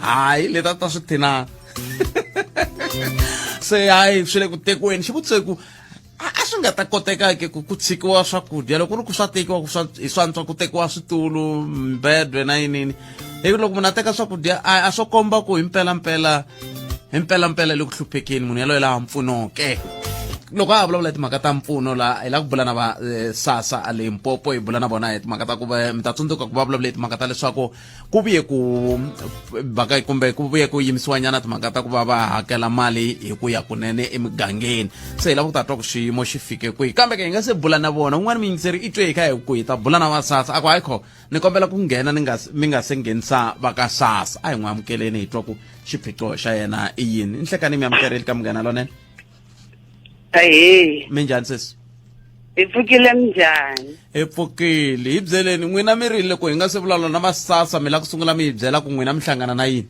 hayi leti a ta swi thi na se hayi swi le ku tekweni xivutiso ku a a swi nga ta koteka ke ku ku tshikiwa swakudya loko ku ri ku swa tekiwa ku swa hi swantswa ku tekiwa switulu mbedwe na yinini hi ku loko munhu a teka swakudya a a swo komba ku hi mpelampela hi mpelampela le ku hluphekeni munhu yaloye laha mpfunoke loko a ha vulavula hi timhaka ta mpfuno laha hi la ku bula na va eh, sasa a limpopo hi bula na vona hi timhaka ta ku va mi ta tsundzuka ku va vulavula hi timhaka ta leswaku ku vuye ku baka kumbe ku vuye ku yimisiwa nyana timhaka ta ku va va hakela mali hi ku ya kunene emigangeni se hi lava ku ta twa ku xiyimo xi fike kwihi kambe ke hi nga se bula na vona un'wana miyingiseri i twe hi kha hi ku hi ta bula na va sasa a ku hayi kho ni kombela ku nghena ni nga mi nga se nghenisa va ka sasa a hi n'wi amukeleni hi twa ku xiphiqo xa yena i yini i nhlekani mi amukerile ka munghana lonene Ahee. minjhani sesi Hi pfukile minjhani? hi pfukile hi byeleni n'wina mi rile ku hi nga se vulavula na vasasa mi la ku sungula mi hi byela ku n'wina mi hlangana na yini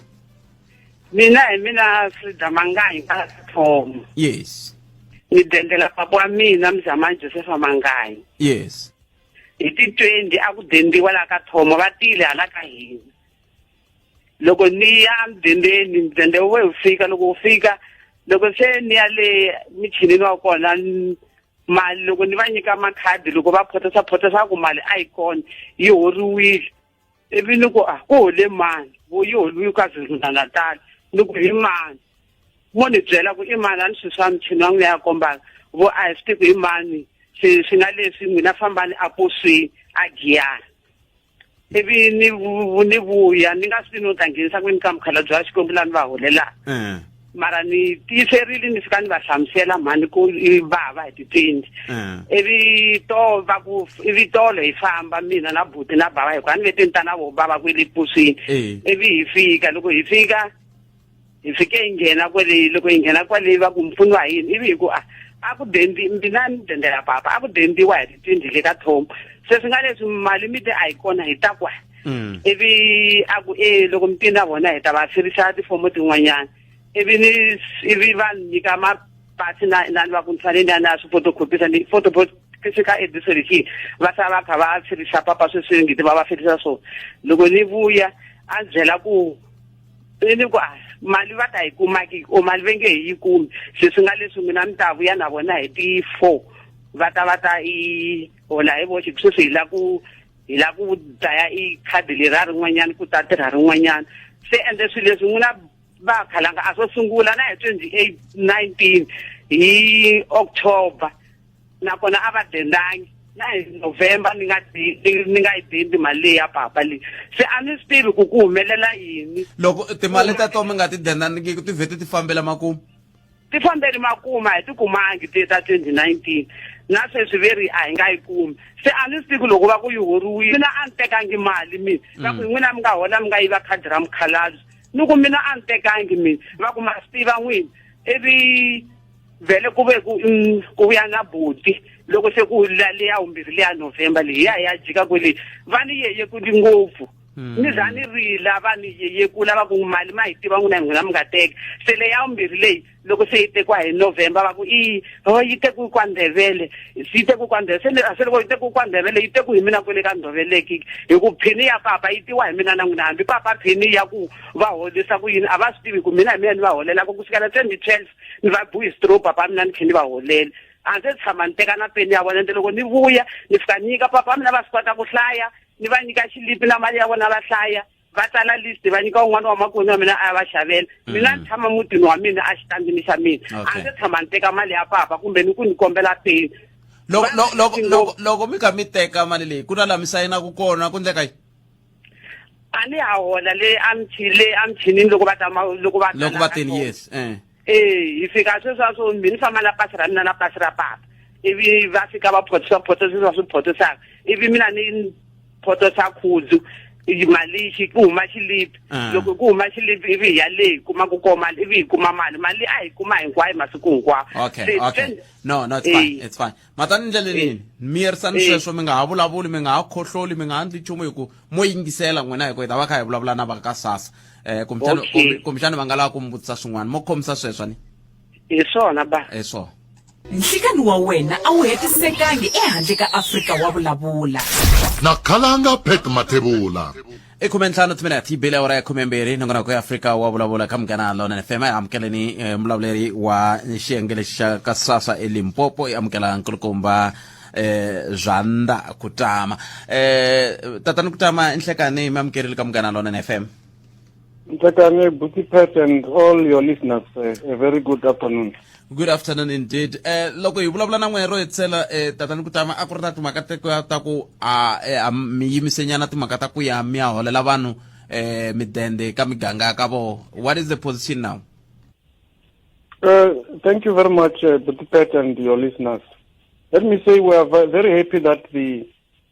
Mina hi mina Frida Mangayi ka Thomo. yes Ni dendela papa wa mina Mzama Joseph Mangayi. yes Hi ti 20 a ku dendiwa la ka Thomo va tile hala ka hina. loko ni ya mudendeni mudende we wu fika loko wu fika loko se ni ya le michinini wa kona mali loko ni va nyika makhadi loko va photesa photesa ku mali a yi kona yi horiwile ivi ni ku a ah, ku hole mani vo yi holiwi ka zirundanatala ni ku hi mani mo ni byela ku i mani a ni swi swa michini wa n'wina ya kombaka vo a hi swi tiku hi mani swi swi nga leswi n'wina fambani a posweni a giyana ivi ni vu- ni vuya ni nga swi ni u ta nghenisa kwini ka mukhalabye wa xikwembu lani va holelaka Eh. mara ni tiyiserile ni fika ni va hlamusela mhani ku i vava hi titwendi Eh. ivi to va ku ivi tolo hi famba mina na buti na bava hikuva ni ve tintana vo bava kwele puswini Eh. ivi hi fika loko hi fika hi fike hi nghena kwale loko hi nghena kwale va ku mpfuni wa yini ivi hi ku a a ku dendi mina ni dendela papa a ku dendiwa hi titindi le ka thomo se swi nga leswi mali mi te a yi kona hi ta kwa mm. ivi a ku e loko mi tini na vona hi ta va firisa tifomo tin'wanyana ivi ni ivi va ni nyika mapasi na na ni va ku ni fanele ni ya na swi photocopisa ni photocopisa se ka ediso lexi va sala va kha va firisa papa sweswi ngiti va va firisa swona loko ni vuya a byela ku ni ni ku a mali va ta yi kumaki o mali ve nge hi yi kumi se swi nga leswi mina mi ta vuya na vona hi ti four va ta va ta i hola hi voxe ku sweswi hi la ku hi la ku dlaya i khadi leri a rin'wanyana ku ta tirha rin'wanyana se ende swilo leswi n'wina va khalanga a swo sungula na hi twenty eight nineteen hi october nakona a va dendangi na hi november ni nga ni nga yi dendi mali leyi ya papa leyi se a ni swi tivi ku ku humelela yini loko timali ta to mi nga ti dendaniki ti vhete ti fambela makumu ti fambeli makuma hi ti kumangi ti ta twenty nineteen na sweswi ve ri a hi nga yi kumi se a ni swi tivi loko va ku yi horiwile mina a ni tekangi mali mina va ku hi n'wina mi nga hola mi nga yiva khadi ra mukhalabye ni ku mina a ni tekangi mina va ku ma swi tiva n'wini ivi vhele ku ve ku mm, ku vuya na buti loko se ku leya vumbirhi leya novhemba leyi ya ya jika kwele va ni yeye ku ndi ngopfu hmm. ni za ni rila va ni yeye ku lava ku mali ma hi tiva n'wina hi n'wina mi nga teki se leya vumbirhi leyi loko se yi tekiwa hi novhemba va ku i ho oh, yi teku kwa ndhevele yi teku kwa ndhevele se ni se loko yi teku kwa ndhevele yi teku hi mina kwele ka ndhoveleki hi ku phini ya papa yi tiwa hi mina na n'wina hambi papa phini ya ku va holisa ku yini a va swi tivi ku mina hi mina ni va holelaka ku sukela twenty twelve ni va bu hi stroke papa mina ni tlhe ni va holele a ndzi tshama ni teka na peni ya vona ende loko ni vuya ni fika nyika papa mina va swi kota ku hlaya ni va nyika xilipi na mali ya vona va hlaya va tsala list va nyika un'wana wa makoni wa mina a ya va xavela mm. mina ni tshama mutini wa mina a xitandini xa mina a ndzi tshama ni teka mali ya papa kumbe ni ku ni kombela peni loko mi kha mi teka mali leyi ku na laha mi sayinaku kona ku ndleka yi a ni ya hola le a mchini le a mchini loko va ta loko va loko va tini yes eh eh hi fika sweswa swo mbi ni famba na pasi ra mina na pasi ra papa ivi va fika va photisa photisa sweswa swi photisaka ivi mina ni photosa khuzu mali xi ku huma xilipi ah. loko ku huma xilipi ivi hi ya leyi kuma ku koma mali ivi hi kuma mali mali a hi kuma hinkwayo masiku hinkwawo okay okay no no it's fine it's fine ma ta ni ndlele nini mi yerisani sweswo mi nga ha vulavuli mi nga ha khohloli mi nga ha ndli nchumu hi ku mo yingisela n'wina hi ku hi ta va kha hi vulavula na va ka sasa um kumbexani va nga lava ku mi vutisa swin'wana mo khomisa sweswo ni hi swona ba hi swona nhlikani wa wena a wu hetisekangi ehandle ka afrika wa vulavula nakhalanga pet mathevula i khume ntlhanu timinete yi bile awara ya khume mbirhi nongonoko ya afrika wa vulavula ka munghana lona fm amukeleni eh, mulavuleri wa xiyenge lexi xa ka sasa elimpopo i amukela nkulukumba eh zanda kutama eh tatani kutama inhlekani mi amukerile ka munghana lona fm Ntatane, Buti Pat, and all your listeners, uh, a very good afternoon. good afternoon indeed eh loko hi vulavula na n'wehe ro hetisela eh tatani kutama a ku ri na timhaka ta ku a eh, mi yimisenyana timhaka ta ku ya mi ya holela vanhu eh midende ka miganga ka vona what is the position now uh, thank you very much uh, Pet and your listeners let me say we are very happy that the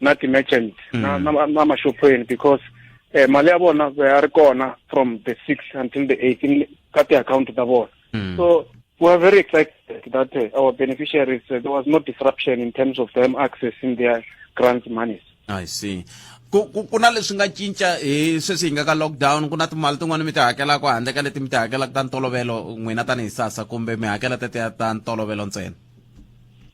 na ti-merchant mm. na, na, na maxophweni because eh, mali ya vona ya ri kona from the six until the eighteen ka ti-akhawunti ta vona mm. so we are very excited that uh, our beneficiaries uh, there was no disruption in terms of them accessing their grants monies i see ku ku ku na leswi nga cinca hi sweswi hi nga ka lockdown ku na timali tin'wana mi ti hakelaka handle ka leti mi ti hakelaka ta ntolovelo n'wina tanihi sasa kumbe mi hakela teteya ta ntolovelo ntsena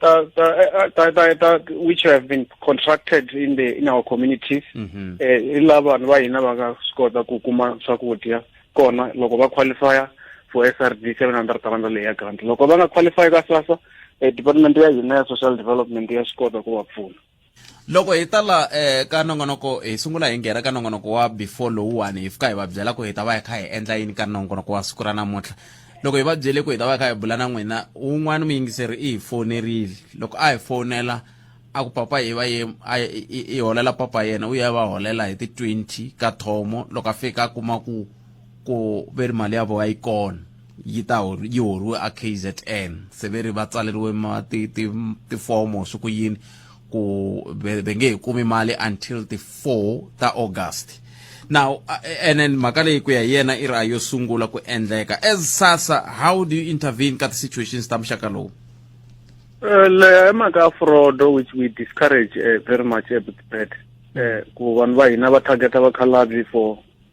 the, the, uh, uh, the, the, the, which have been contracted in the in our communities mm-hmm. eh, i lava vanhu va hina va nga swi kota ku kuma swakudya kona loko va qualifya for srd seven hundred rand leyi ya grant loko va nga qualify ka sasa eh, department ya hina ya social development ya swi kota ku va pfuna loko hi ta la eh, ka nongonoko hi sungula hi nghena ka nongonoko wa before lowuwani hi fika hi va byela ku hi ta va hi kha hi endla yini ka nongonoko wa siku ra namuntlha loko hi va byele ku hi ta va hi kha hi bula na n'wina un'wana muyingiseri i hi fonerile loko a hi fonela a ku papa hi va ye a i- i- i holela papa yena u ya va holela hi ti-20 ka thomo loko a fika a kuma ku ku ve ri mali ya vona yi kona yi ta yi horiwe a kzn se ve ri va tsaleriwe tifomo swi ku yini ku ve nge hi kumi mali until ti four ta august now and then mhaka leyi ku ya hi yena i ri a yo sungula ku endleka as sasa how do you intervene ka ti-situations ta muxaka lowu eh, leya i mhaka ya frodo which we discourage uh, very much ebitbet um eh, ku vanhu va hina va targeta vakhalabyi for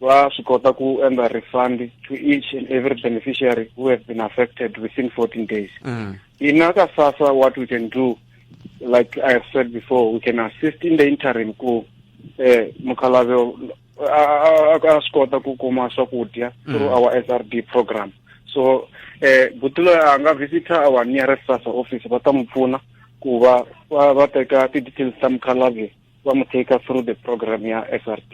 va swi kota ku endla refund to each and every beneficiary who have been affected within 14 days mm. ina ka sasa what we can do like i have said before we can assist in the interim ku eh mukhalave a swi kota ku kuma swakudya mm. through our srd program so eh butulo a nga visitor our nearest sasa office va ta n'wi pfuna ku va va teka ti-details ta mukhalave va mu take through the program ya srd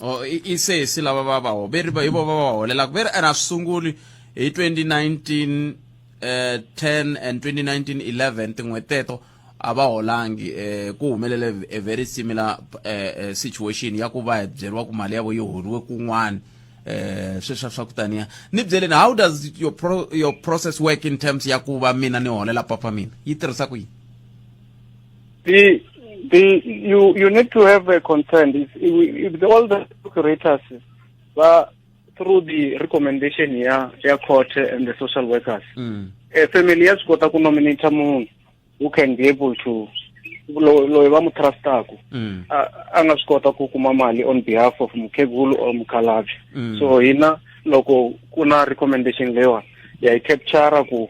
oh i i sesi lava va va ho ve ri va- hi vo va va holelaka ve ri ene a swi sunguli hi 2019 eh 10 and 2019 11 tin'hweti teto a va holangi eh ku humelele a very similar eh, eh, situation ya ku va hi byeriwa ku mali ya vo yi holiwe kun'wana eh sweswa swa ku taniya ni byeleni how does your pro, your process work in terms ya ku va mina ni holela papa mina yi tirhisa ku yini The the you you need to have a concern. If, if, if all the operators were through the recommendation ya ya court and the social workers, mm. a family has got to nominate someone who can be able to loyi va mu trustaka mm. a nga swi kota ku kuma mali on behalf of mukhegulu or mukhalabye mm. so hina loko ku na recommendation leyiwani ya yi captura ku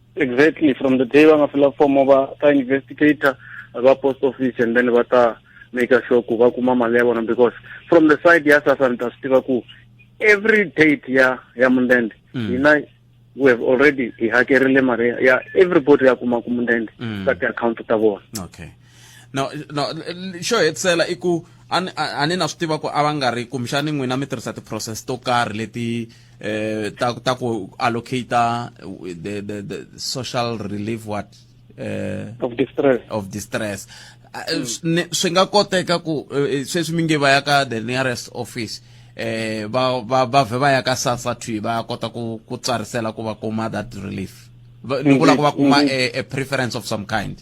exactly from the day va nga fila fomo va ta investigator va post office and then va ta make sure ku va kuma mali ya vona because from the side ya sasa ni ta swi tiva ku every date ya ya mundende mm. hina mm. we have already hi hakerile mali ya everybody ya kuma ku mundende mm. ka ti-account ta vona okay no no xo hetisela i ku a ni na swi tiva ku a va nga ri kumbexani n'wina mi tirhisa ti-process to karhi leti eh ta ta ku allocata the, the, the social relief what eh of distress of distress mm. swi nga koteka ku eh, sweswi mi nge va ya ka the nearest office eh ba ba ba vhe va ya ka sasa twi ba kota ku ku tsarisela ku va kuma that relief ni vula ku va kuma mm-hmm. a preference of some kind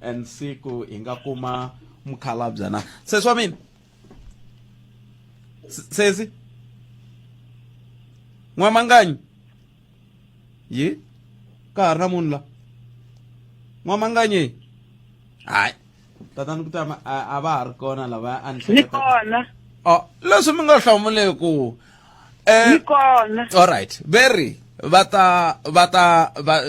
and siku hi nga kuma mukhalabya na sesi wa mina sesi n'wamanganyi yi ka ha ri na munhu la n'wamanganyi hayi tatani kutama a va ha ri kona lava a ni kona o oh, leswi mi nga hlamuleki eh, kona all right very va ta va ta va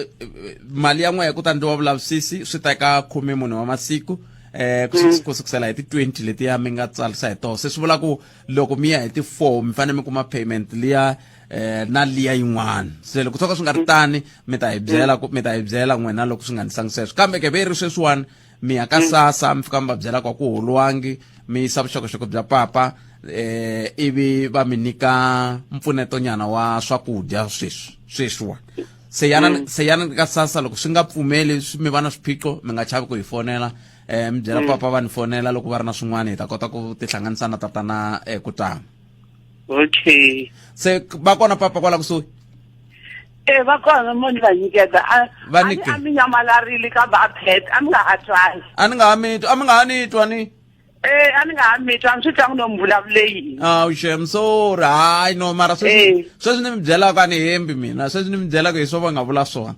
mali ya n'wehe ku ta ndliwa vulavisisi swi teka khume munhu wa masiku eh ku mm. ku sukusela hi ti 20 leti ya mi nga tsarisa hi toho se swi vula ku loko mi ya hi ti 4 mi fanele mi kuma payment liya eh na liya yin'wana se loko tshoka swi nga ri mm. tani mi ta hi byela ku mi ta hi byela n'wina loko swi nga ni sangi sweswo kambe ke ve yi ri sweswiwani mi ya ka mm. sasa mi fika mi va byela ku a ku holiwangi mi yisa vuxokoxoko bya papa eh ivi va mi nyika mpfuneto nyana wa swakudya sweswi sweswiwa se yana mm. se yana ka sasa loko swi nga pfumeli mi va na swiphiqo mi nga chavi ku hi fonela eh mi byela mm. papa va ni fonela loko va ri na swin'wana hi ta kota ku tihlanganisa na tatana eh, ku tama okay se va kona papa kwala kusuhi e va kona mo ni va nyiketa a mi nyamalarile kambe a phet a mi nga ha twani a ni nga ha mitwa a mi nga ha ni twa ni e a ni nga ha mitwa a ni swi tlangi no mi vulavule yini aw shem sorry hayi no mara sweswi eh. sweswi ni mi byelaka a ni hembi mina sweswi ni mi byelaka hi swo va nga vula swona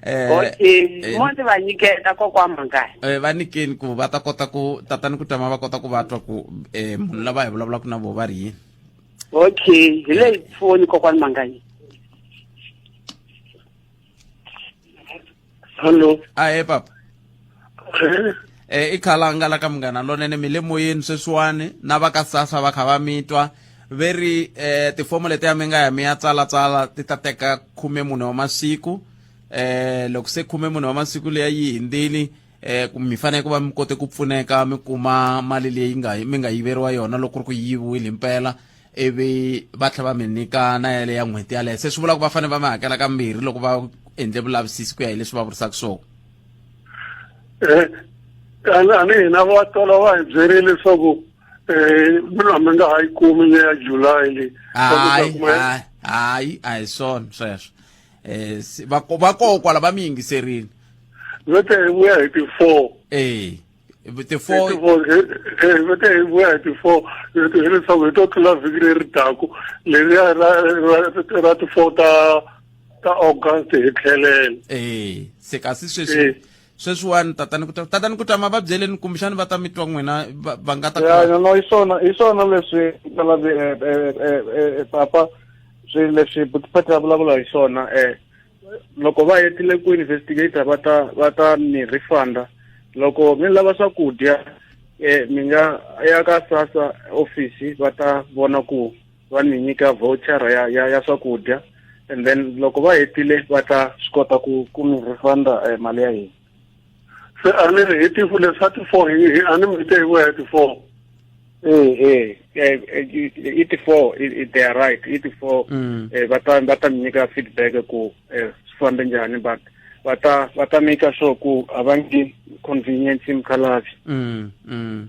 eh, okay eh, mo ndzi va nyiketa kokwa mhangani eh, va nikeni ku va ta kota ku tatani ku tama va kota ku va twa ku eh, munhu lava hi vulavulaka na vo va ri yini okay hi leyi foni kokwani mangani hallo ahe papa okay. e i khalanga la ka munghana lonene mi le moyeni sweswiwani na va ka sasa va kha va mi twa ve ri um tifomo leti ya mi nga ya mi ya tsalatsala ti ta teka khume munhu wa masiku um loko se khume munhu wa masiku leya yi hindzili um mi fanele ku va mi kote ku pfuneka mi kuma mali leyi nga mi nga yiveriwa yona loko ku ri ku yiviwile mpela ivi va tlhela va mi nyika na yale ya n'hweti yaleyo se swi vula ku va fanele va mi hakela ka mbirhi loko va endle vulavisisi ku ya hi leswi va vurisaka swona eh, ani hina va tala va hi byerile leswaku um mina mi nga ha yi kumi leya july leyi hayi hayi a hi swona sweswo Eh, va va kokwa lava mi yingiserile vete hi vuya hi ti-four ee hi ti four vete hi vuya hi ti four hileswaku hi to tlula vhiki leri taku leriya ra ti four ta ta august hi tlhelele ee se kasi sweswi sweswiwani tatani ku tatani ku ta ma va byeleni kumbexani va ta mi twa n'wina va nga ta ya no hi swona hi swona leswi papa swi leswi butifati a vulavula hi swona um loko va hetile ku investigator va ta va ta mi refunda loko mi lava swakudya eh mi nga ya ka sasa office va ta vona ku va mi nyika voucher ya ya, ya swakudya and then loko va hetile va ta swi kota ku ku mi refunda eh, mali ya hina se a ni ri hi tifu le swa ti-four hi a ni mi te hi vuya hi ti-four e i ti-four they are right i ti-four mm. eh, va ta va ta mi nyika feedback ku eh, swi fambe njhani but va ta va ta maker sure ku a va ngi convenience mukhalabye mm, mm.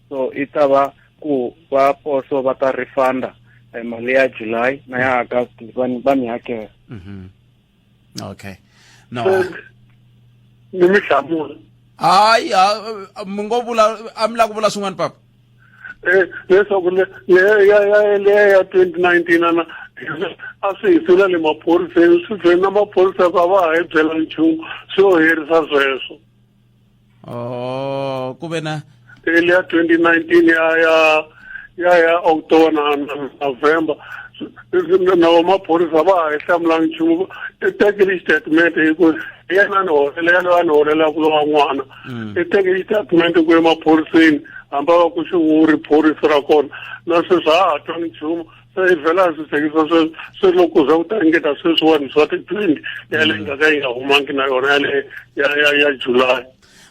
so i ta va ku va poso va ta refunda eh, mali ya july na ya august va ni- va ni hakela Mhm. okay no ni mi hlamula hayi ha- mi ngo vula a mi la ku vula swin'wana papa Eh, leswaku le- le- ya- ya- leya ya twenty nineteen ana a swi hi sula le maphoriseni swi vheni na maphorisa ku a va ha hi byela nchumu swi yo herisa sweswo oh ku ve na early ya 2019 ya ya ya ya october na na- november na vamaphorisa va ha yi hlamulangi nchumu i tekile xitatimende hi ku hi yena a ni holela yena a ni holela ku lova n'wana i tekile xitatimende ku emaphoriseni hamba va ku xi wu ri phorisa ra kona na sweswi a ha ha twanga nchumu se i vhela a swi tshekisa se se loko za ku ta ringeta sweswiwani swa ti-twenty yaleyi nga ka yi nga humangi na yona yale ya ya ya july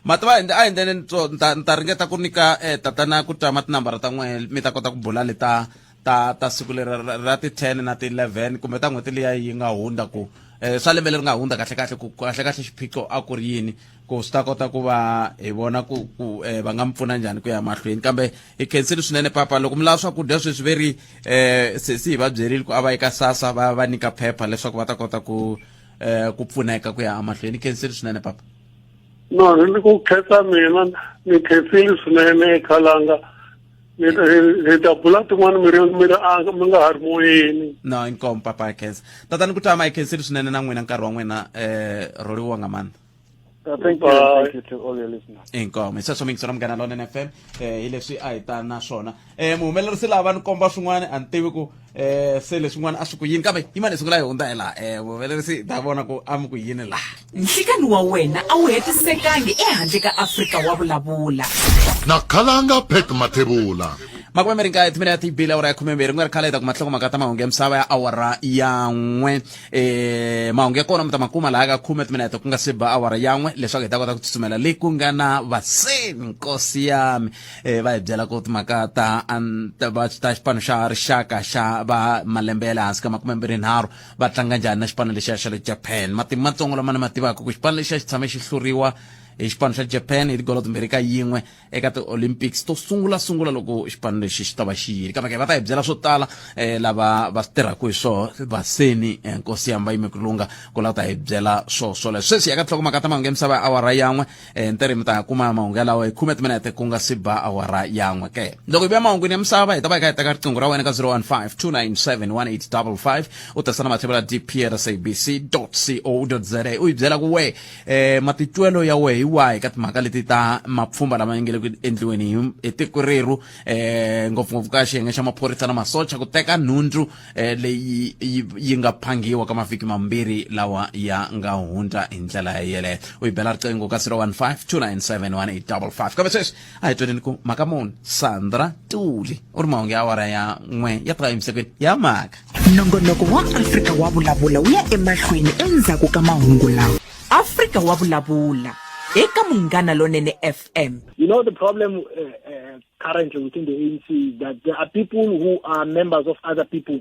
mativa a hi ndlele ni ta ni ta ringeta ku nyika um tatana ku tama tinambara ta n'wehe mi ta kota ku bula leta ta ta siku leri ra ti-ten na ti-eleven kumbe ta n'hweti liya yi nga hundza ku um swa lembe leri nga hundza kahlekahle ku kahlekahle xiphiqo a ku ri yini ku swi ta kota ku va hi vona ku ku eh, va nga mi pfuna njhani ku ya mahlweni kambe hi khensile swinene papa loko mi lava swakudya sweswi ve ri eh, sesi hi va byerile ku a va eka sasa va va nyika phepha leswaku va ta kota ku eh, ku pfuneka ku ya emahlweni hi khensile swinene papa no hi ni ku khetsa mina ni khetsile swinene ekhalanga hi ta bula tin'wana mi ri mi ri anga mi nga ha ri moyeni no inkomo papa hi khensa tatani ku tama hi khensile swinene na n'wina nkarhi wa n'wina um roliwa nga mandla Uh, thank you, thank you to all your listeners. inkomo hi sweswo mi yingisela munghana lona nfm um eh, hi leswi a hi ta na swona um muhumelerisi lava ni komba swin'wana a ni tivi ku um se leswin'wana a swi ku yini kambe yimani hi sungula hi hundza hi laha um muhumelerisi hi ta vona ku a mi ku yini laha nhlikani wa wena a wu hetisekangi ehandle ka afrika wa vulavula na khalanga pek mathebula makume mi ri nkaye timinete yi bile awara ya khumembirhi ku nga ri khale hi ta kuma nhlokomhaka ta mahungu ya misava ya awara ya n'we e mahungu ya kona mi ta ma kuma laha ka khume timinete ku nga se ba awara yan'we leswaku hi ta kota ku tsutsumela le ku nga na vaseni nkosi yami e va hi byela ku timhaka ta ta xipano xa rixaka xa va malembe ya le hansi ka makume mbirhi nharhu va tlanga njhani na xipano lexiya xa le japan matimu matsongo lama ni ma tivaka ku xipano lexiya xi tshame xi hluriwa hi xipano xa japan hi tigolo timbirhi ka yin'we eka ti-olympics to sungula sungula loko xipano lexi xi ta va xi yile kambe va ta hi byela swo tala um lava va swi tirhaka hi swo vaseni eh, nkosi yamba yimi kulunga ku la ta hi byela swo swole sweswi ya ka tinhlokomaka ta mahungu ya misava ya awara yan'we um ntirhi mi ta kuma mahungu yalawa hi khume timinete ku nga si ba awara yan'we ke loko hi vuya mahungwini ya misava hi ta va hi kha hi teka riqingho ra wena ka 015 297 1855 u tirhisa na matlhelo ya dprsabc co za u yi byela ku wehe eh matitwelo ya wehe hi wahi ka timhaka leti ta mapfhumba lama ya nge le ku endliweni hi- hi tiko rerhu eh ngopfungopfu ka xiyenge xa maphorisa na masocha ku teka nhundzu eh leyi yi yi nga phangiwa ka mavhiki mambirhi lawa ya nga hundza hi ndlela yeleyo u yi bela riqingho ka 015 297 1855 kambe sweswi a hi twaneni ku mhaka muni sandra tuli u ri mahungu ya awara ya n'we ya tiva emisakweni ya mhaka nongonoko wa afrika wa vulavula wu ya emahlweni endzhaku ka mahungu lawa afrika wa vulavula eka munghana lonene fm You know, the problem uh, uh, currently within the ANC is that there are people who are members of other people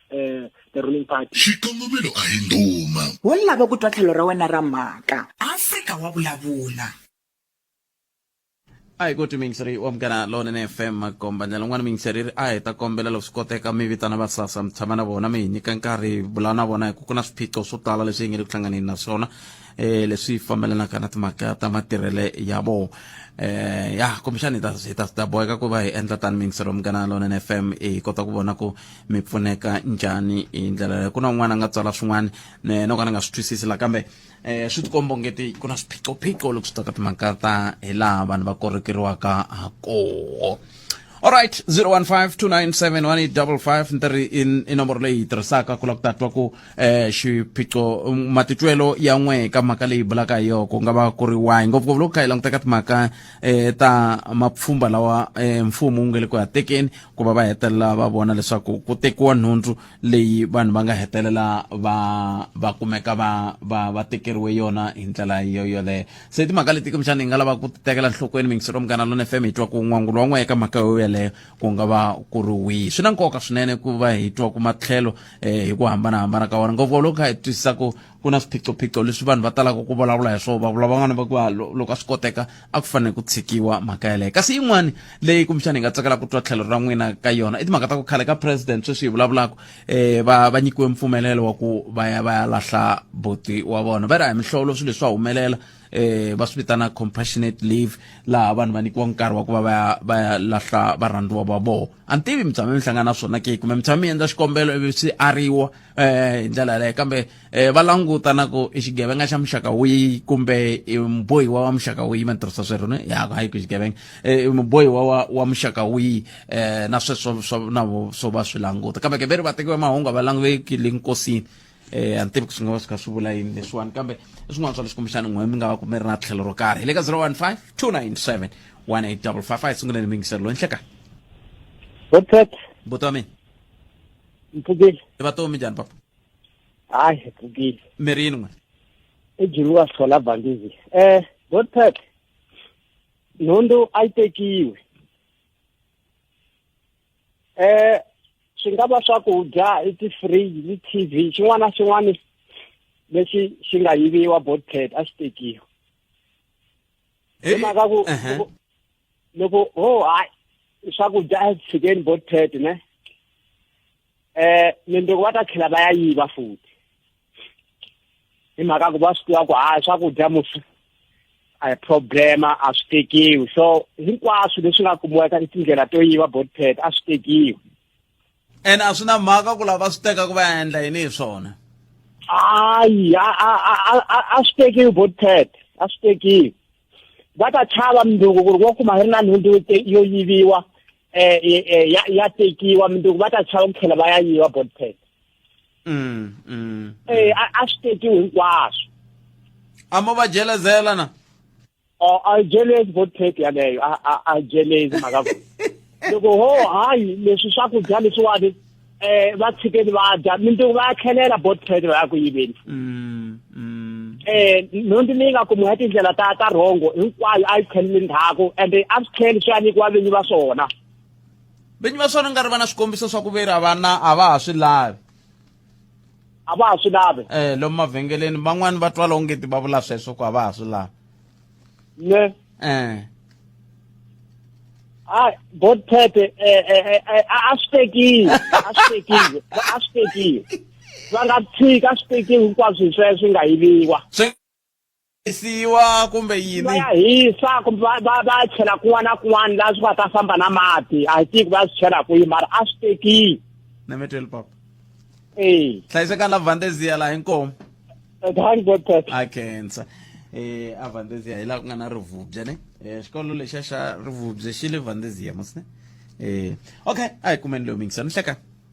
uh, the ruling party xikongomelo a hi nduma wo lava ku twa tlhelo ra wena ra mhaka afrika wa vulavula a hi koti miyingiseri wa mugana lonene fm makomba ndlela n'wana miyingiseri ri a hi ta kombela loko swi koteka mi vitana va sasa mi tshama na vona mi hi nyika nkarhi vula na vona hi ku ku na swiphiqo swo tala leswi hi nge le ku hlanganeni na swona eh leswi fambelanaka na timhaka ta matirhele ya vona eh ya kumbexana hi ta hi ta ta boheka ku va hi endla tani mingisero mugana lona fm hi kota ku vona ku mi pfuneka njhani hi ndlela leyo ku na un'wana a nga tswala swin'wana no ka ni nga swi twisisi la kambe um swi tikomba ongeti ku na swiphiqophiqo loko swi ta ka timhaka ta hi laha vanhu va korekeriwaka ha koho alright 0152971855 ni ta ri i nomboro leyi hi tirhisaka ku la ku tatwa ku um xiphiqo matitwelo ya n'we ka mhaka leyi bulaka hi yoko ku nga va ku ri wayi ngopfungopfu loko kha hi languteka timhaka um ta mapfhumba lawa um mfumo wu nge le ku ya tekeni ku va va hetelela va vona leswaku ku tekiwa nhundzu leyi vanhu va nga hetelela va va kumeka va va va tekeriwe yona hi ndlela yo yoleyo se timhaka leti kumbexana hi nga lava ku ti tekela nhlokweni mingiselo munghana lona fm hi twa ku n'wangulo wa n'we eka mhaka yo yeleyo ku nga va ku ri wihi swi na nkoka swinene ku va hi twa ku matlhelo um hi ku hambanahambana ka wona ngopfu loko kha hi twisisa ku ku na swiphiqophiqo leswi vanhu va talaka ku vulavula hi swona va vula van'wana va ku ah, loko a swi koteka a ku fanele ku tshikiwa mhaka yaleyo kasi yin'wana leyi kumbexana hi nga tsakela ku twa tlhelo ra n'wina ka yona i timhaka ta ku khale ka president sweswi hi vulavulaka um eh, va va nyikiwe mpfumelelo wa ku va ya va ya lahla boti wa vona va ri a hi mihlovo swilo leswi swa humelela eh va swi vitana compassionate leave laha vanhu va nyikiwa nkarhi wa ku va va ya va ya lahla varhandziwa va vona a ni tivi mi tshame mi hlangana na swona ke kumbe mi tshame mi endla xikombelo ivi swi ariwa eh hi ndlela yaleyo kambe eh va languta na ku i xigevenga xa muxaka wihi kumbe i mubohiwa wa muxaka wihi ma tirhisa swero ne ya hayi ku xigevenga eh i mubohiwa wa wa muxaka wihi eh na sweswo swa na swo va swi languta kambe ke veri vatekiwa mahungu a va languteki le nkosini eh a ni tivi ku swi nga va swi kha swi vula yini leswiwani kambe i swin'wana swa leswi kumbexani n'we mi nga va ku mi ri na tlhelo ro karhi hi le ka 015 297 1855 hi sunguleni mingiselo loyi nhleka Botet, buti wa mina mpfukile. i vatomi njhani papa Hayi, mpfukile. mi ri yini n'we Ejulu wa sola bandizi. Eh, Botet. Nhundu a yi tekiwe. eh swi nga va swakudya i ti-fridge ni t-v xin'wana na xin'wana lexi xi nga yiviwa bothead a xi tekiwa hi eh, mhaka ku loko ho oh, hayi swakudya a tshikeni bothead ne eh mundzuku va ta tlhela va ya yiva futhi hi mhaka ku va swi tiva ku hayi swakudya musi a hi problema a swi tekiwi so hinkwaswo leswi nga kumiwaka i tindlela to yiva body pad a swi tekiwi ene a swi na mhaka ku lava swi teka ku va ya endla yini hi swona hayi a swi tekiwi body pad a swi tekiwi va ta chava mindzuku ku ri wo kuma hi ri na nhundzu yo yiviwa um ya tekiwa mindzuku va ta chava ku tlhela va ya yiva body pad mm, mm, eh a a swi teki hinkwaswo a mo va jelezela na o a jelezi vote tape yaleyo a a a jelezi mhaka ku loko ho hayi leswi swakudya leswiwani eh va tshikeni va dya mintungu va ya tlhelela bot credit va ya ku yiveni mm, mm. eh nhundzu leyi nga kumiwa ya tindlela ta ta rhongo hinkwayo a yi tlheleli ndzhaku ende a swi tlheli swi ya nyikiwa vinyi va swona vinyi va swona nga ri va na swikombiso swa ku veri a vana a va ha swi lavi a va ha swi lavi um lomu mavhengeleni van'wani va twala onge ti va vula sweswo ku a va ha swi lavi ne um hayi botete eh, eh, eh, a swi tekiwe a swi tekiwe a swi tekiwe va nga tshika a swi tekiwe hinkwaswo hi sweswo swi nga yiviwa hisiwa kumbe va yini ya hisa kumbe va va va ya chela kun'wana na kun'wana laha swi nga ta famba na mati a hi tivi ku va ya swi chela kwihi mara a swi tekile nameteli papa ee hlayisekani la vandezia laha hinkomu thank god pastor a khensa eh a vandezia hi laha ku nga na rivubya ne eh xikolo lexa xa rivubya xi le vandezia mos ne eh okay a hi kumeni leyo mingisani hlekani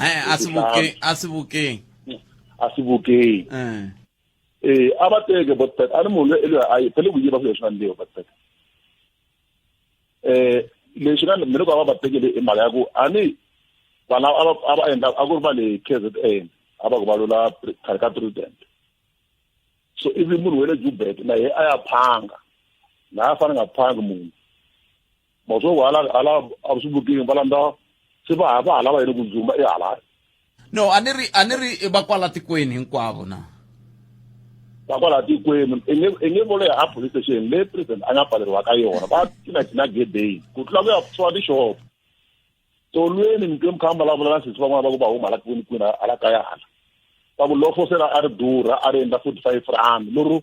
Eh, a swi vukeng a swi vukeng a swi vukeng eh eh a va teke botpet a ni munhu loyi loyi a yi phele ku yiva swilo swa ndewu botpet eh lexi nga mina ku va va tekele i mhaka ya ku a ni vana a va a va endla a ku ri va le KZN a va ku va lula khale ka president so ivi munhu wele Jubek na ye a ya phanga na a fana nga phangi munhu masoko hala hala a swi vutiwi va landza se va va hala va yini ku dzumba i hala no a ni ri a ni ri va kwala tikweni hinkwavo na va kwala tikweni i nge i nge vole ha police station le president a nga pfaleriwa ka yona va tina tina gedeni ku tlula ku ya pfuwa tixopo tolweni mi twe mukhamba la vulela sisi van'wana va ku va huma la kwini kwini hala kaya hala va ku lofo se a ri durha a ri endla forty five rand lero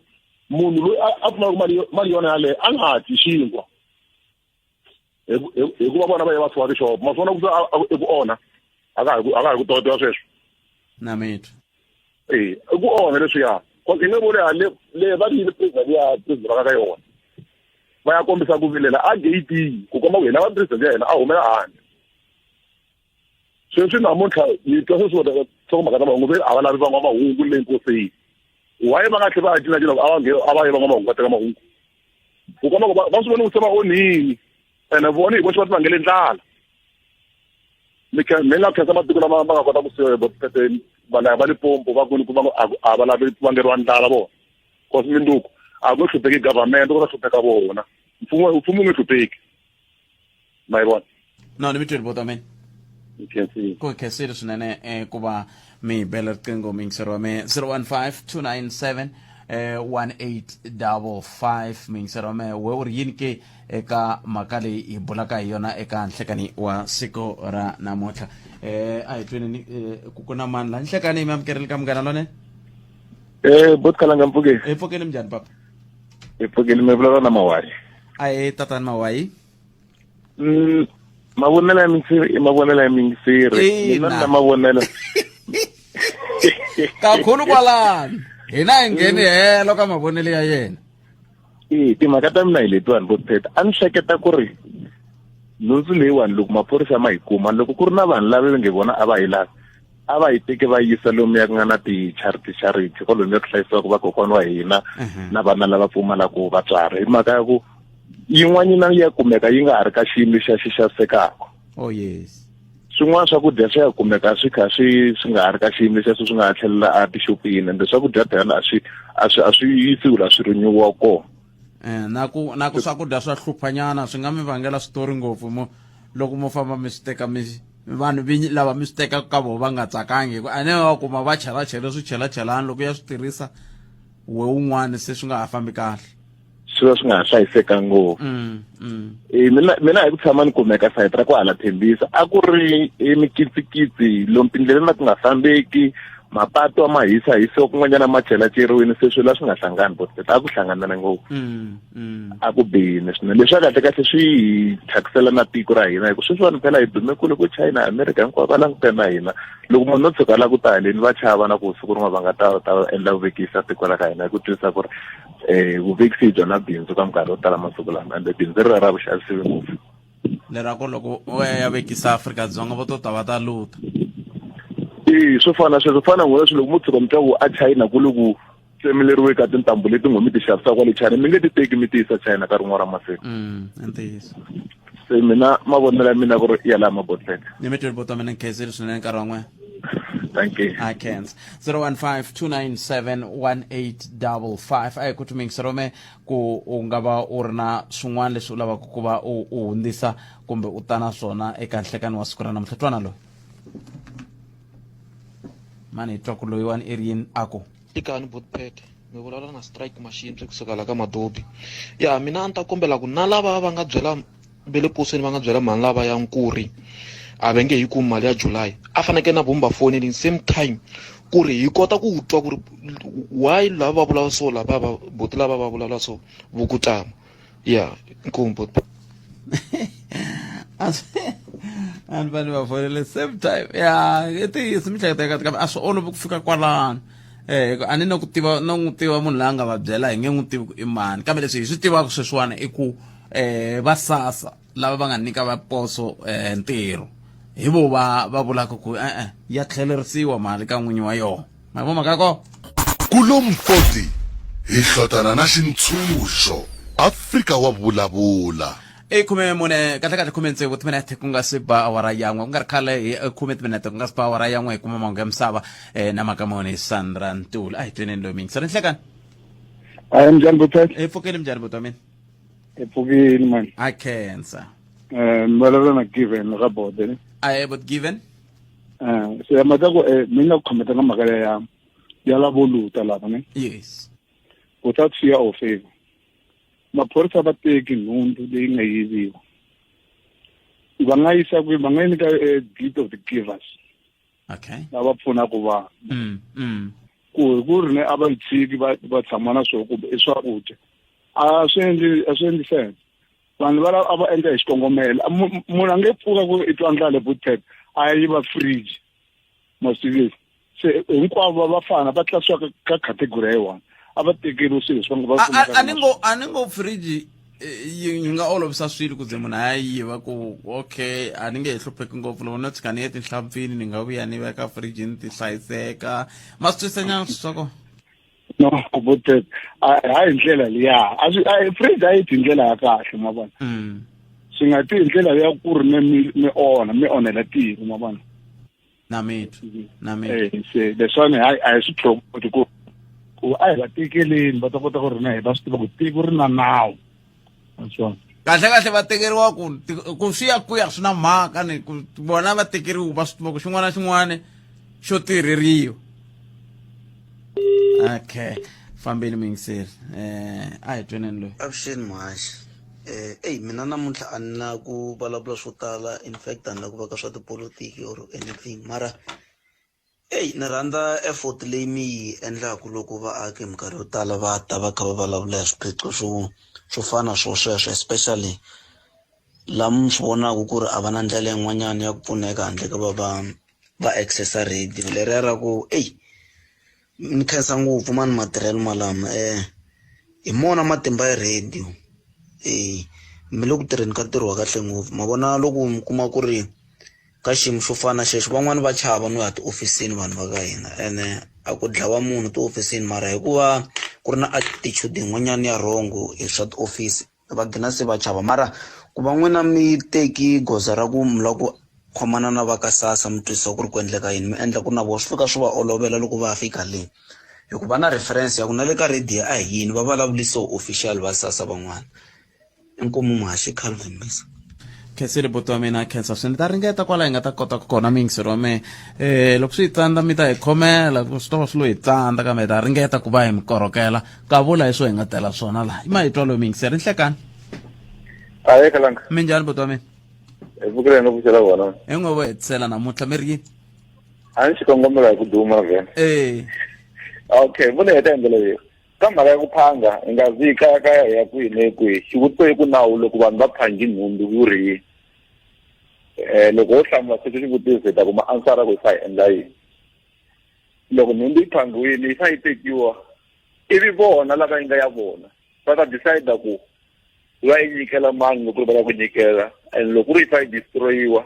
munhu loyi a pfumaka mali mali yona yaleyo a nga hatli xinkwa hikuva vona va ye va fiwa tixopo ma swi vona ku eku onha a ka ha ku tokotela sweswo na mitwa ee i ku onha leswiya cause i nge vuli hale leyi va ri yini president ya president va ka yona va ya kombisa ku vilela a gate ku komba ku hina va president ya hina a humela handle sweswi namuntlha yi twa sweswi wona nhlokomhaka ta mahungu ve a va lavi van'wamahungu le nkosini why va nga tlhe va ya cinacina ku a va nge a va yi van'wamahungu va teka mahungu ku komba ku va swi vona ku se va onhini ene vona hi voxe va ti vangele ndlala mi mi nga khensa matiko lama ma nga kota ku siva hi valaya va lipompo va kuni ku va a va lavi vangeriwa ndlala vona cause minduku a ku hlupheki government ku ta hlupheka vona mfumo mfumo wu nge hlupheki ma yi vona no ni mi tweli bota mina ku hi khensile swinene um ku va mi bela riqingho mingisero wa me 015 297 um 1855 mingisero wa me we u ri yini ke eka mhaka leyi hi bulaka hi yona eka nhlekani wa siku ra namuntlha eh a hi tweni eh, ku ku na mani la nhlekani mi amukerile ka munghana lone Eh, bot kalanga mpfukeni. hi pfukeni minjhani papa Hi pfukeni mi vulavula na mawari. a hi tatani mawayi Mm, mavonelo ya minsiri i mavonelo ya minsiri. Ina. Mina na mavonelo. kakhulu kwalani hina hi ngheni helo ka mavonelo ya yena e timhaka ta mina hi letiwani vo sithetha a ni hleketa ku ri nhundzu leyiwani loko maphorisa ma yi kuma loko ku ri na vanhu lava va nge vona a va yi lavi a va yi teke va yisa lomu ya ku nga na ti-charity charity ko lomu ya ku hlayisiwaka vakokwana wa hina mhm. na vana lava pfumalaka vatswari hi mhaka ya ku yin'wanyana ya kumeka yi nga ha ri ka xiyimo xa xi xavisekaka oh yes swin'wana swakudya swi ya kumeka swi kha swi swi nga ha ri ka xiyimo xexo swi nga ha tlhelela a tixopini ende swakudya phela a swi a swi a swi yisiwi la swi rinyiwa kona eh, na ku na ku swakudya swa hluphanyana swi nga mi vangela switori ngopfu mo loko mo famba mi swi teka mi vanhu vinyi lava mi swi tekaka ka vona va nga tsakangi hikuva a ne va kuma va chelachele swichelachelani loko ya swi tirhisa we un'wana se swi nga ha fambi kahle swi va swi nga ha hlayisekanga ngopfu mm, mm. Eh, mina mina hi ku tshama ni kumeka sayiti ra ku hala thembisa a ku ri eh, mikitsikitsi lomu tindleleni na ku nga fambeki mapatu ma hisa hisiwa kun'wanyana ma chelacheriwini se swilo a swi nga hlangani but a ku hlanganana ngopfu mm, mm. a ku bihini swinene leswi a kahle kahle swi hi thyakisela na tiko ra hina hikuva sweswi vanhu phela hi dume kule ku china america hinkwavo va langutane na hina loko munhu no tshuka la ku ta haleni va chava na ku siku rin'wana va nga ta ta endla vuvekisa tiko ra ka hina hi ku twisisa ku ri eh vuvekisi bya na bindzu ka minkarhi yo tala masiku lama ende bindzu ri ra vuxavisiwi ngopfu lerako loko u ya vekisa afrika dzonga vo to ta va ta luta i swo fana sweswo fana n'wina swi loko mo tshuka mi twa ku a china ku loku tsemeleriwe ka tintambu leti n'wi mi ti xavisaka kwale china mi nge ti teki mi ti yisa china ka rin'wana ra masiku mm, i ntiyiso se mina mavonelo ya mina ku ri ya laha mabotlele ni mi tweli botwa mina ni khensile swinene nkarhi wa n'wena Thank you. I can. 015-297-1855 a hi ku tumingisa rome ku u nga va u ri na swin'wana leswi u lavaka ku va u u hundzisa kumbe u ta na swona eka nhlekani wa siku ra namuntlha twana loyi mani hi twa ku loyiwani i ri yini a ku Ikani Botpet mi vulavula na strike machine swi kusuka la ka madobi ya mina a ni ta kombela ku na lava va nga byela ve le posweni va nga byela mhani lava ya nkuri a va nge yi kumi mali ya july a fanekele na vumba fonelini same time ku ri hi kota ku twa ku ri why lava va vulavula so lava va boti lava va vulavula so vukutama Ja, nkun pot. vanhu vanhu va fonele same time ya i ntiyiso mihleketa eka kambe a swi olovi ku fika kwalano um a ni na ku tiva na n'wi tiva munhu la nga va byela hi nge n'wi tivi ku i mani kambe leswi hi swi tivaka sweswiwana i ku um va sasa lava va nga nyika vaposo eh, ntirho hi vo va va vulaka ku e-e ya tlhelerisiwa mali ka n'winyi wa yona ma vona mhaka ko kulomu 40 hi hlotana na xintshunxo afrika wa vulavula i khume mune kahle kahle khume tsevu timinete ku nga si ba awara yan'we ku nga ri khale hi eh, khume timinete ku nga si ba awara yan'we hi kuma mahungu ya misava um na mhaka mone sandra ntula a hi tweneni loyi mingi sani nhlekani a hi minjhani butwet hi pfukeli minjhani butwa mina ephukeni mani a cancer um ni vulavula na given ra bode ne a ye but given um se mhaka ku um mi nga ku khometa ka mhaka leya ya ya lavoluta lava ne yes without fear or favor maphorisa va teki nhundzu leyi nga yiviwa va nga yisa kwihi va nga yi nyika a deed of the givers okay na va pfuna ku va mm mm ku hi ku ri ne a va yi tshiki va va tshama na swo kumbe i swakudya a swi endli a swi endli sense vanhu va a va endla hi xikongomelo munhu a nge pfuka ku i twa ndlale butet a yi va fridge masivisi se hinkwavo va fana va tlasiwa ka category ya yi one a va tekeriwi swilo leswi va ngo va a ni ngo a ni ngo fridge yi yi nga olovisa swilo ku ze munhu a yi yiva ku okay a ni nge he hlupheki ngopfu loko no tshuka ni ye tinhlampfini ni nga vuya ni veka fridge ni ti hlayiseka ma swi twisa nyana swi swa kona no kubutet hayi ndlela liya a swi a fridge a yi ti ndlela ya kahle ma vona swi nga ti hi ndlela ya ku ri mi mi onha mi onhela tiko ma vona na mina mhm. na mina eh, se leswani hayi a hi swi tlhokoti ku ku a hi va tekeleni va ta kota ku ri na hi va swi tiva ku tiko ri na nawu naswona kahle kahle va tekeriwa ku ku swi ya ku ya swi na mhaka ni ku vona va tekeriwa va swi tiva ku xin'wana na xin'wana xo tirheriwa okay fambeni mingiseri um eh, a hi tweneni loyi avuxeni muhaxi Eyi mina namuntlha a ni na ku vulavula swo tala in fact a ni na ku va ka swa tipolotiki or anything mara eyi ni rhandza effort leyi mi yi endlaku loko vaaki hi minkarhi yo tala va ta va kha va vulavula hi swiphiqo swo swo fana swo sweswo especially la mi swi vonaku ku ri a va na ndlela yin'wanyani ya ku pfuneka handle ka va va va access-a radio leriya ra ku eyi ni khensa ngopfu mani matirhelo malama um hi mona matimba ya radio e mi le ku tirheni ka ntirho wa kahle ngopfu ma vona loko mi kuma ku ri ka xiyimo xo fana na xexo van'wani va chava no ya tihofisini vanhu va ka hina ene a ku dlawa munhu tihofisini mara hikuva ku ri na attitude yin'wanyana ya wrong hi swa tiofisi va gina se va chava mara ku va n'wina mi teki goza ra ku mi lava ku khomana na va ka sasa mi twisisa ku ri ku endleka yini mi endla ku ri na vona swi fika swi va olovela loko va fika le hikuva na reference ya ku na le ka radio a hi yini va vulavuli so official va sasa van'wana inkomu muhaxi calvin misa khensile buti wa mina khensa swinene ta ringeta kwala hi nga ta kota ku kona mingisiro wa mehe um loko swi hi tsandza mi ta hi khomela swi ta va swi lo hi tsandza kambe hi ta ringeta ku va hi mi korhokela ka vula hi swo hi nga tela swona laha i mahitwa lomi yingiseri nhlekani aye kalanga mi njhani botwa mina evukile no vuxela vona hi ngo vo hetisela namuntlha mi ri yini a ni xikongomelo hi ku duma vhena e okay vula heta hi ndlela leyi ka mhaka ya ku phanga hi nga zi kaya kaya hi ya kwihi ne kwihi xivutiso i ku nawu loko vanhu va phangi nhundzu wu ri yini um loko wo hlamula sweswi xivutiso hi ta kuma ansara ku yi fa hi endla yini loko nhundzu yi phangiwile yi fa yi tekiwa ivi vona lava yi nga ya vona va ta decide ku va yi nyikela mani loko va lava ku nyikela and loko ri yi fa yi destroyiwa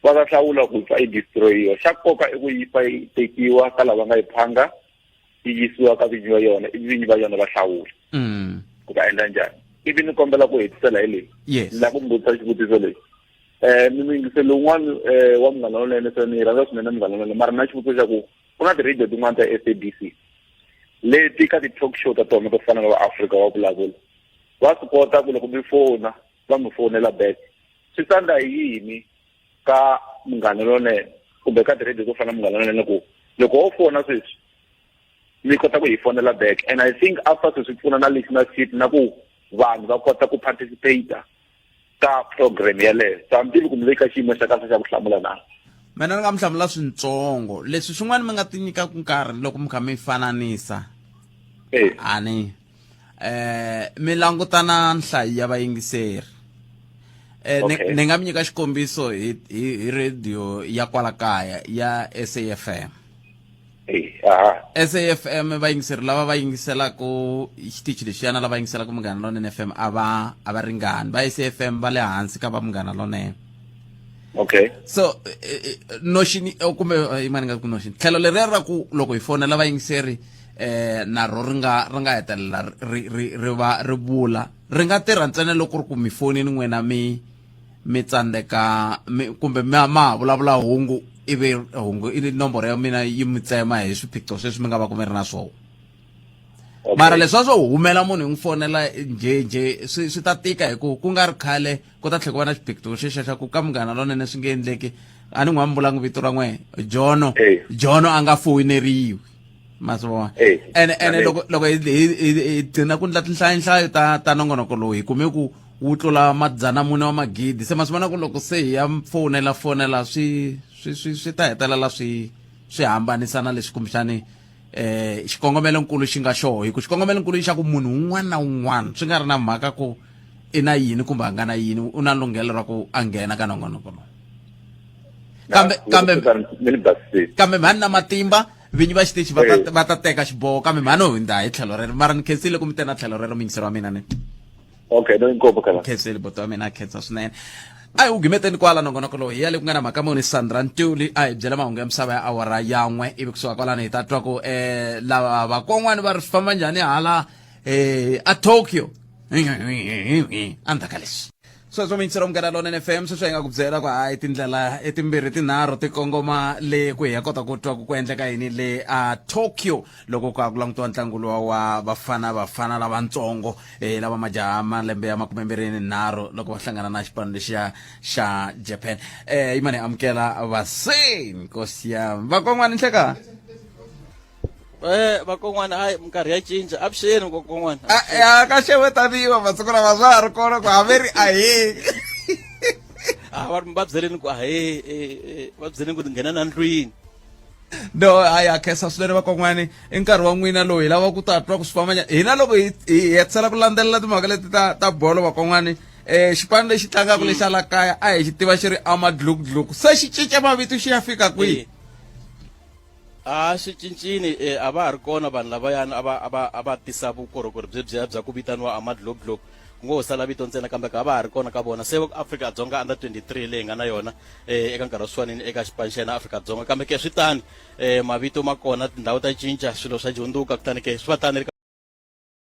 va ta hlawula ku fa yi destroyiwa xa nkoka i ku yi fa yi tekiwa ka lava nga yi phanga yi yisiwa ka vinyi va yona ivi vinyi va yona va hlawula mm. ku va endla njhani ivi ni kombela ku hetisela hi leyi ni lava ku mi vutisa xivutiso lexi um eh, miyingiselo wun'wana um eh, wa munghana lonene se ni yi rhandza swinene munghana lonene mara na xivutiso xa ku ku na ti-radio tin'wana ta s a b c leti ka ti-talk show ta tona to fana na va africa wa vulavula va swi kota ku loko mi fona va mi fonela back swi tsandza hi yini ka munghana lonene kumbe ka ti-radio to fana na munghana lonene ku loko wo fona sweswi mi kota ku hi fonela back and i think after sweswi pfuna na listenership na ku vanhu va kota ku participate ka program yeleyo so mi tivi ku mi le ka xiyimo xa kahle xa ku hlamula na mina ni nga mi hlamula swintsongo leswi swin'wana mi nga ti nyikaka nkarhi loko mi kha mi fananisa eh. ani eh mi langutana nhlayo ya vayingiseri eh ni nga mi nyika xikombiso hi radio ya kwala kaya ya SAFM safm va yingiseri lava va yingiselaka xitichi lexiyana lava yingiselaka munghana lonene fm a va a va ringani va safm va le hansi ka va munghana lonene okay so eh, eh, eh, noxini oh, kumbe yimani nga ku noxini tlhelo leriya ra ku loko hi fonela va yingiseri eh naro ri nga ri nga hetelela ri ri ri va ri vula ri nga tirha ntsena loko ri ku mi fonini n'wina mi mi tsandzeka mi kumbe ma ma ha vulavula hungu ivi hungu i nomboro ya mina yi mi tsema hi swiphiqo sweswi mi nga va ku mi ri na swona mara leswa swo humela munhu hi n'wi fonela njhenjhe swi swi ta tika hi ku ku nga ri khale ku ta tlhela ku va na xiphiqo xexa xa ku ka munghana lonene swi nge endleki a ni n'wi ambulangi vito ra n'we jono jono a nga foyineriwi ma swi vona ene ene loko loko hi gcina ku ndla tinhlayonhlayo ta ta nongonoko lowu hi kume ku wu tlula madzana mune wa magidi se ma swi vona ku loko se hi ya fonela fonela swi swi swi swi ta hetelela swi swi hambanisa na leswi kumbexani eh xikongomelo nkulu xi nga xoho hi ku xikongomelo nkulu xa ku munhu un'wana na un'wana swi nga ri na mhaka ku i na yini kumbe a nga na yini u na lunghelo ra ku a nghena ka nongonoko lowu kambe kambe kambe mhani na matimba vinyi va xitichi va ta va ta teka xiboho kambe mhani u hundza hi tlhelo rero mara ni khensile ku mi tena tlhelo rero mingisero wa mina ni okay no inkopo kala khensile boto wa mina a khensa swinene a hi wu gimeteni kwala nongonoko lowu hi ya le ku nga na mhaka muni sandra ntuli a hi byela mahungu ya misava ya awara yan'we ivi kusuka kwalano hi ta twa ku um lava vakon'wani va ri swi famba njhani hala um a tokyo endzhaku ka leswi sweswo mintsiro munghana lonene fm sweswi hi nga ku byela ku hayi tindlela etimbirhi tinharhu ti kongoma le ku hi ya kota ku twa ku ku endleka yini le a tokyo loko ku ku langutiwa ntlangu lowa wa vafana vafana lavatsongo um lava majaha malembe ya makume mbirhi ni nharhu loko va hlangana na xipano lexiya xa japan um yimani hi amukela vaseni nkosi yam vakon'wani nhlekani Eh, vakon'wana hayi minkarhi ya cinca avuxeni vakon'wana ah, ya ka xewe taniwa masiku lama swa ha ri kona ku haveri ahee ah, va va byeleni ku ahee eh, eh, va byeleni ku nghena na ndlwini no hayi ha khensa swinene vakon'wani i nkarhi wa n'wina lowu hi lava ku ta twa ku swi fambanya hina loko hi hetisela ku landzelela timhaka leti ta ta bolo vakon'wani um xipano lexi tlangaka lexi ala kaya a hi xi tiva xi ri amadlukudluku se xi cinca mavito xi ya fika kwihi a swi cincini e a va ha ri kona vanhu lavayani a va a va a va tisa vukorhokeri byebyiya bya ku vitaniwa amadloblob ku ngo ho sala vito ntsena kambe ka va ha ri kona ka vona se afrika dzonga under 23 leyi nga na yona um eka nkarhi wa swifanini eka xipani xa yena afrika dzonga kambe ke swi tani um mavito ma kona tindhawu ta cinca swilo swa jundzuka kutani ke swi va tani